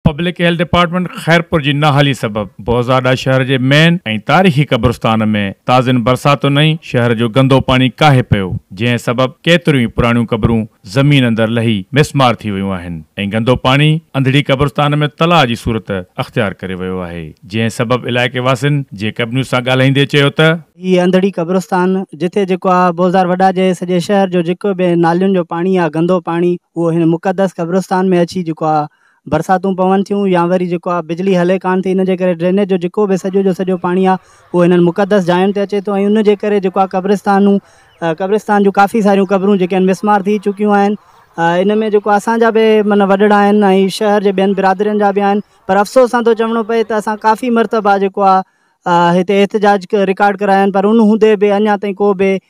Public health department Khairpur جي نااهلي سبب بهزاده شهر جي مين ۽ تاريخي قبرستان ۾ تازين برساتن هنئين شهر جو گندو پاڻي ڪاهي پيو جنهن سبب ڪيتريون ئي پراڻيون قبرون زمين اندر لهي مسمار ٿي ويون آهن ۽ گندو پاڻي انڌڙي قبرستان ۾ تلاء جي صورت اختيار ڪري ويو آهي جنهن سبب علائقي واسين جي ڪب نيوز سان ڳالهائيندي چيو ته هي انڌڙي قبرستان جتي جيڪو آهي بهزار وڏا جي سڄي شهر جو جيڪو به نالين جو پاڻي آهي گندو پاڻي اهو هن مقدس قبرستان ۾ اچي جيڪو آهي برساتون پون ٿيون يا وري جيڪو آ بجلي هلي ڪانه ٿي ان جي ڪري ڊرينيج جو جيڪو به سڄو جو سڄو پاڻي آ اهو هنن مقدس جاين تي اچي ٿو ۽ ان جي ڪري جيڪو آ قبرستانون قبرستان جون ڪافي ساريون قبرون جيڪي آهن مسمار ٿي چڪيون آهن ان ۾ جيڪو اسان جا به من وڏڙا آهن ۽ شهر جي ٻين برادرين جا به آهن پر افسوس سان ٿو چوڻو پئي ته اسان ڪافي مرتبا جيڪو آ هتي احتجاج رڪارڊ ڪرايا آهن پر ان هوندي به اڃا تائين ڪو به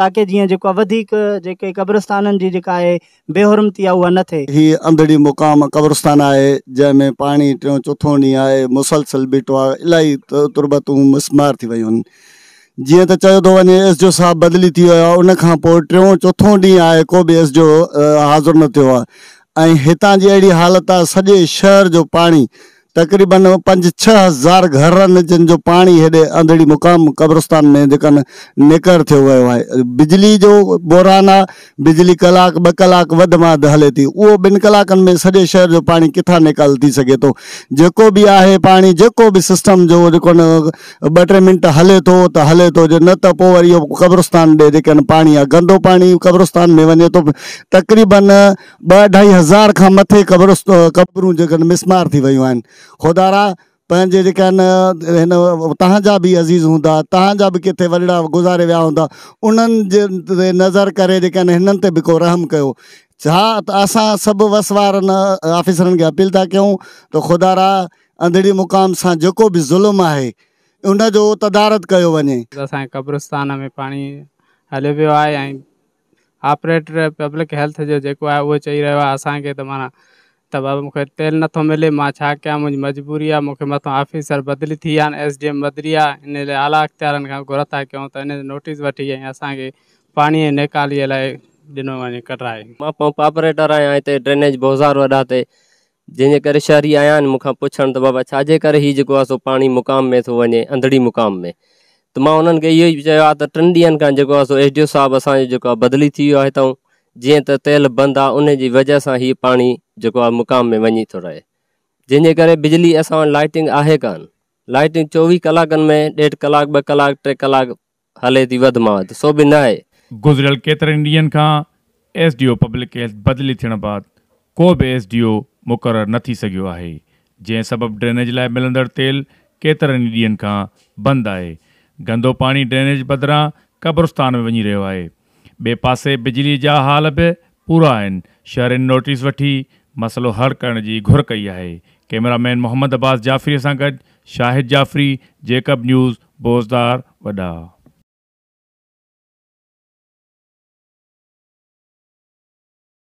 تاڪه جيئن جيڪو وڌيڪ جيڪي قبرستانن جي جيڪا آهي بي حرمتي آهي اها نه ٿئي. هي انڌڙي مقام قبرستان آهي جنهن ۾ پاڻي ٽيون چوٿون ڏينهن آهي مسلسل بيٺو آهي الائي تربتون مسمار ٿي ويون جيئن ته چيو ٿو وڃي ايس جو صاحب بدلي ٿي ويو آهي ان کان پوء ٽيون چوٿون ڏينهن آهي ڪو به ايس جو حاضر نه ٿيو آهي ۽ هتان جي اهڙي حالت آهي سڄي شهر جو پاڻي تقريبن پنج ڇهه هزار گهرن جن جو پاڻي هيڏي انڌڙي مقام قبرستان ۾ جيڪا نه نيڪر ٿيو ويو آهي. بجلي جو بحران آهي، بجلي ڪلاڪ ٻه ڪلاڪ وڌ ۾ وڌ هلي ٿي، اهو ٻن ڪلاڪن ۾ سڄي شهر جو پاڻي ڪٿان نيڪال ٿي سگهي ٿو. جيڪو به آهي پاڻي جيڪو به سسٽم جو جيڪو نه ٻه ٽي منٽ هلي ٿو ته هلي ٿو جي نه ته پوء وري اهو قبرستان ڏي جيڪا نه پاڻي آهي گندو پاڻي قبرستان ۾ وڃي ٿو تقريبن ٻه اڍائي هزار کان مٿي قبرون جيڪن مسمار ٿي ويون آهن خدارا پنهنجي جيڪا آهن هن تهانجا به عزيز هوندا تهانجا به ڪٿي ورڙا گذاري ويا هوندا انهن جي نظر ڪري جيڪا آهن هنن تي به ڪو رحم ڪيو ڇا ته اسان سڀ وس وارن آفيسرن کي اپيل ٿا ڪيون ته خدارا انڌڙي مقام سان جيڪو به ظلم آهي ان جو تدارت ڪيو وڃي. اسان جي قبرستان ۾ پاڻي هليو ويو آهي ۽ آپريٽر پبلڪ هيلٿ جو جيڪو آهي اهو چئي رهيو آهي اسان کي ته معنيٰ ته بابا مون کي تيل نٿو ملي مان ڇا ڪيان منهنجي مجبوري آهي مون کي مٿان آفيسر بدلي ٿي آهن ايس ڊي ايم بدلي آهي ان لاء اعليٰ اختيارن کان گهر ٿا ڪيون ته ان جو نوٽيس وٺي ۽ اسان کي پاڻي ۽ نيڪاليء لاء ڏنو وڃي ڪڍرائي. مان پمپ آپريٽر آهيان هتي ڊرينيج بوزار وڏا تي جنهن جي ڪري شهري آيا آهن مون کان پڇڻ ته بابا ڇا جي ڪري هي جيڪو آهي سو پاڻي مقام ۾ ٿو وڃي انڌڙي مقام ۾، ته مان انهن کي اهو ئي چيو آهي ته ٽن ڏينهن کان جيڪو آهي سو ايس ڊي او صاحب اسان جو جيڪو آهي بدلي ٿي ويو آهي هتئون جيئن ته تيل بند آهي انهي جي وجهه سان هي پاڻي جيڪو آهي مقام ۾ وڃي ٿو رهي جنهن جي ڪري بجلي اسان وٽ لائٽنگ آهي ڪانه لائٽنگ چوويهه ڪلاڪن ۾ ڏيڍ ڪلاڪ ٻه ڪلاڪ ٽي ڪلاڪ هلي ٿي وڌ مان وڌ سو به ناهي. گذريل ڪيترن ئي ڏينهن کان S D O public health بدلي ٿيڻ بعد ڪو به ايس ڊي او مقرر نه ٿي سگهيو آهي جنهن سبب ڊرينيج لاء ملندڙ تيل ڪيترن ئي ڏينهن کان بند آهي گندو پاڻي ڊرينيج بدران قبرستان ۾ وڃي رهيو آهي ٻئي پاسي بجلي جا حال به پورا آهن، شهرين نوٽيس وٺي مسئلو حل ڪرڻ جي گهر ڪئي آهي. ڪئميرا مين محمد عباس جعفري سان گڏ شاهد جعفري، جيڪب نيوز، بوزدار، وڏا.